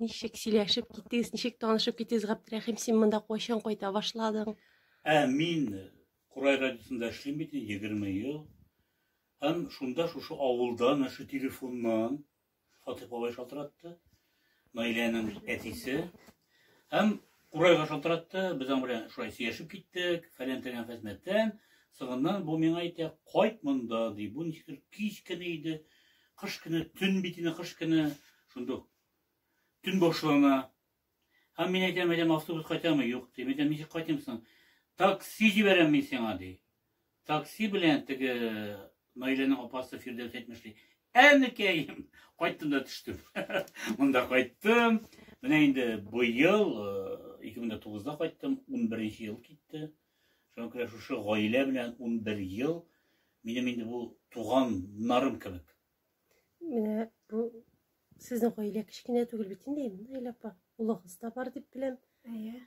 Ничек сөйләшеп киттегез, ничек танышып киттегез, Габдрәхим, син монда кайчан кайта башладың? Ә мин Курай радиосында эшлим бит 20 ел. Һәм шунда шушы авылдан, шушы телефоннан Фатих бабай шалтыратты. Наиләнең әтисе, Һәм курайга шалтыратты, без аның белән шулай сөйләшеп киттек, фәлән-тәлән хезмәттән. Соңыннан бу миңа әйтә, кайт монда, ди. Бу ничектер кич көне иде, кыш көне, төн бит инде кыш көне, шунда төн башлана. Һәм мин әйтәм, әйтәм, автобус кайтамы? Юк, ди. Мин әйтәм, ничек кайтыйм соң? Такси җибәрәм мин сиңа, ди. Такси белән теге Наиләнең апасы Фирдәүс әйтмеш ди. Әнекәем, кайттым да төштем. Монда кайттым. Менә инде быел 2009-да э, кайттым, 11 ел китте. Шуңа күрә шушы гаилә белән 11 ел минем инде бу туганнарым кебек. Менә бу сезнең гаилә кечкенә түгел бит инде, Наилә апа. Улыгыз да бар дип беләм. Әйе.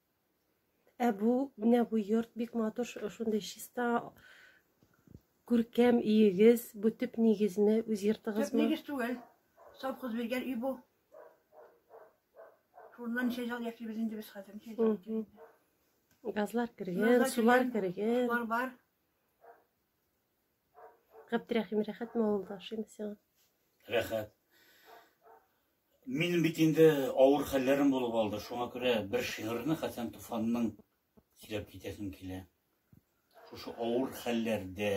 Ә бу, менә бу йорт бик матур, шундый чиста, күркәм өегез, бу төп нигезме, үз йортыгызмы? Төп нигез түгел. Совхоз биргән өй бу. Шуннан ничә ел яшибез инде без хәзер, ничә ел. Газлар кергән, сулар кергән. Сулар бар. Габдрәхим, рәхәтме авылда ашыйм сиңа? Рәхәт. Минем бит инде авыр хәлләрем булып алды. Шуңа күрә бер шигырьне Хәсән Туфанның сөйләп китәсем килә. Шушы авыр хәлләрдә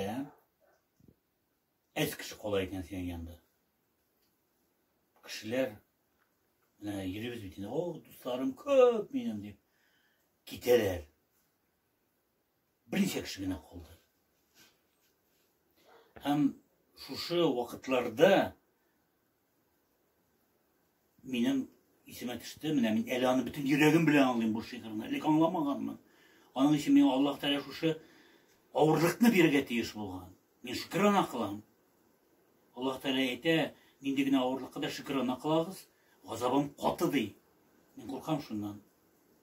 әз кеше кала икән синең янда. Кешеләр менә йөрибез бит инде. О, дусларым күп минем дип китәләр. берничә кеше генә калды. Һәм шушы вакытларда минем исемә төште, менә мин әле аны бөтен йөрәгем белән аңлыйм бу шигырьне, элек аңламаганмын. Аның өчен миңа Аллаһ Тәгалә шушы авырлыкны бирергә тиеш булган. Мин шөкрана кылам. Аллаһ Тәгалә әйтә, нинди генә авырлыкка да шөкрана кылагыз, газабым каты ди. Мин куркам шуннан.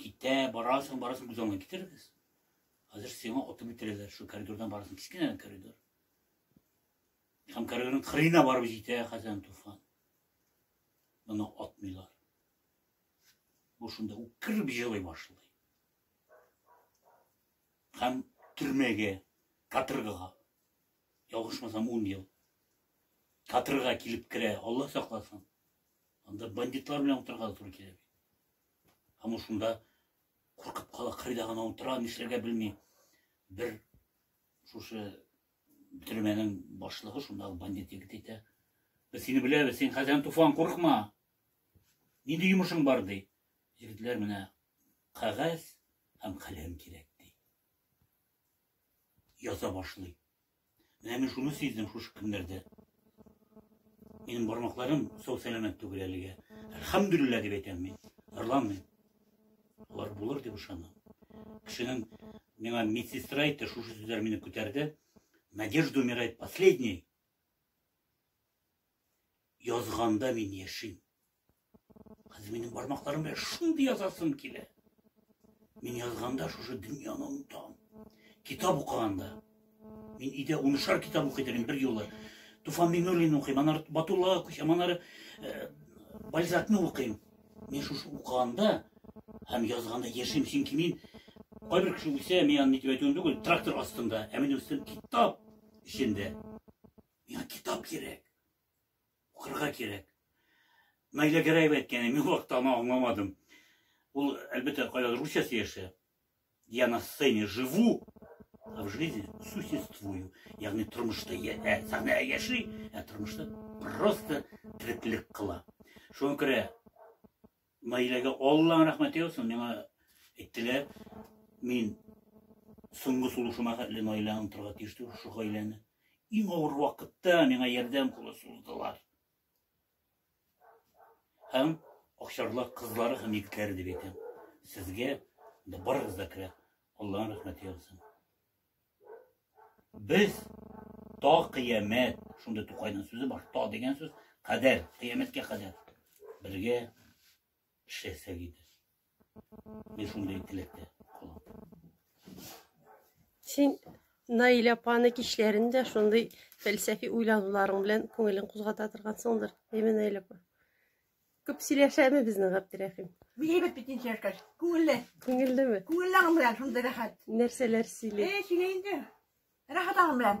Китә, барасың, барасың, күз аңына китерегез. Хәзер сиңа отып бетерәләр, шул коридордан барасың, кечкенә коридор. Һәм коридорның кырыена барып җитә Хәсән Туфан. Моны атмыйлар. Бу шунда үкереп җылый башлый. Һәм төрмәгә, каторгага, ялгышмасам, ун ел каторга килеп керә, Алла сакласын. Анда бандитлар белән утырырга да туры килә бит. Һәм ул шунда куркып кала, кырыйда гына утыра, нишләргә белми. Бер шушы төрмәнең башлыгы шунда бандит егет әйтә. Без сине беләбез, син хәзер туфан курыкма. Нинди йомышың бар ди. Егетләр менә кәгазь һәм каләм кирәк. ята башлый. Менә мин шуны сиздем шушы көннәрдә. Минем бармакларым сау сәламәт түгел әлегә. Әлхәмдүлиллә дип әйтәм мин. Ырланмыйм. Алар булыр дип ышанам. Кешенең миңа медсестра әйтте, шушы сүзләр мине күтәрде. Надежда умирает последней. Язганда мин яшим. Хәзер минем бармакларым белән шундый язасым килә. Мин язганда шушы дөньяны онытам. Китап укыганда. Мин өйдә унышар китап укый идем бер юлы. Туфан Миңнуллин укыйм, анар Батуллага күчәм, анар э, Бальзакны укыйм. Мин шушы укыганда һәм язганда яшим, чөнки мин кайбер кеше үлсә, мин аны нитеп әйтүем түгел, трактор астында, ә минем өстем китап эчендә. Миңа китап кирәк. Укырга кирәк. Найля Гәрәева әйткәне, мин вакытта аны аңламадым. Ул, әлбәттә, кайда Русиясе яшә. Я на сцене живу, а в жизни существую. Ягъни тормышта я, ә, сәхнә яши, ә тормышта просто тереклек кыла. Шуңа күрә Наиләгә Алланың рәхмәте яусын, миңа әйттеләр, мин соңгы сулышыма хәтле Наилә онтырга тиеш түгел шул гаиләне. Иң авыр вакытта миңа ярдәм кулы суздылар. Һәм Акчарлар кызлары һәм егетләре дип әйтәм. Сезгә барыгыз да керә. Алланың рәхмәте яусын. Без та кыямәт, шундый Тукайның сүзе бар, та дигән сүз, кадәр, кыямәткә кадәр бергә эшләсәк иде. Мин шундый теләктә калам. Син Наилә апаны кичләрен дә шундый фәлсәфи уйлануларың белән күңелен кузгата торгансыңдыр, әйме Наилә апа? Күп сөйләшәме безнең Габдерәхим? Бигрәк бит ничә яшькәч. Күңелле. Күңеллеме? Күңелле аның белән шундый рәхәт. Нәрсәләр сөйли? Э, сөйли инде. Рәхәт аның белән.